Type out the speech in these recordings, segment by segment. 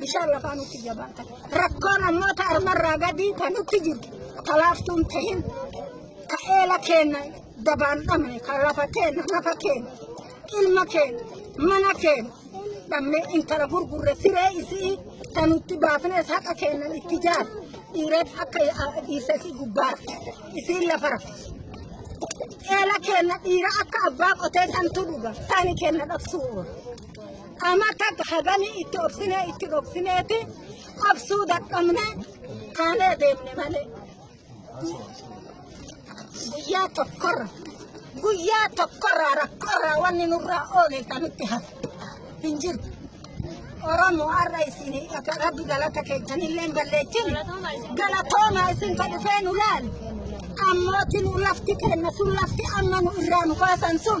Bishaan lafaa nutti jabaatan. Rakkoo namoota armarraa gadii kan nutti jirtu talaaftuun ta'in ka eela keenya dabaan dhabne ka lafa keenya nafa keenya ilma keenya mana keenya dhabne intala gurgurre siree isii kan nutti baafnes haqa keenya itti jaar dhiireen akka dhiise isii gubbaa isiin lafa rafe. Eela keenya dhiira akka abbaa qotee santu dhuga taani keenya dhabsuu oola. Amma akka haganii itti obsinee itti dhokfineeti obsuu dadhabne kaanee deemne malee. Guyyaa tokkorra guyyaa tokkorraa rakkorraa wanni nurraa oole kan nutti hafe hin jiru. Oromoo har'a isin akka rabbi galata keessan illee balleessin galatoomaa isin ka dhufee nu laal. Ammooti nu lafti kenna sun lafti amma nu irraa nu baasan sun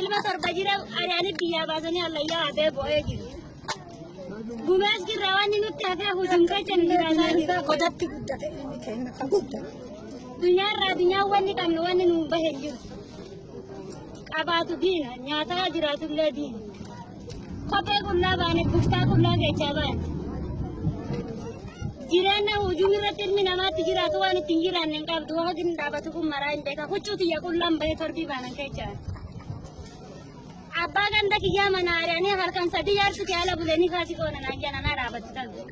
Ilma torba jira ari'anii biyyaa baasanii hallayyaa hafee bo'ee jiru. Gumees jirra wanni nutti hafee hujum kecha nu jiraataa jira. Godatti guddate inni keenya kan guddate. Dunyaarraa addunyaa wanni qabnu wanni nu bahe jiru. Qabaatu diina nyaataa jiraatullee diina. Kophee qullaa baane, buftaa qullaa keechaa baane. Jireenya hojii irratti ilmi namaatti jiraatu waan ittiin jiraanne hin qabdu. Waaqni hin dhaabatu kun maraa hin beeka. Huccuu tiyya qullaan bahee torbii baanan keechaa. Abbaa ganda kiyyaa mana ari'anii halkan sadii yaarsu kee ala bulee ni kaasi qoona naan jedhan na dhaabatu talu.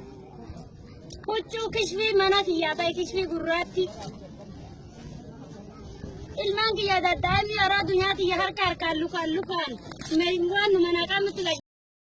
Huccuu kishfii mana kiyyaa ta'e kishfii gurraatti. Ilmaan kiyya daddaa'imni yaraa dunyaa kiyya harka harkaan lukaan lukaan meeshaan waan nu manaa qabnutti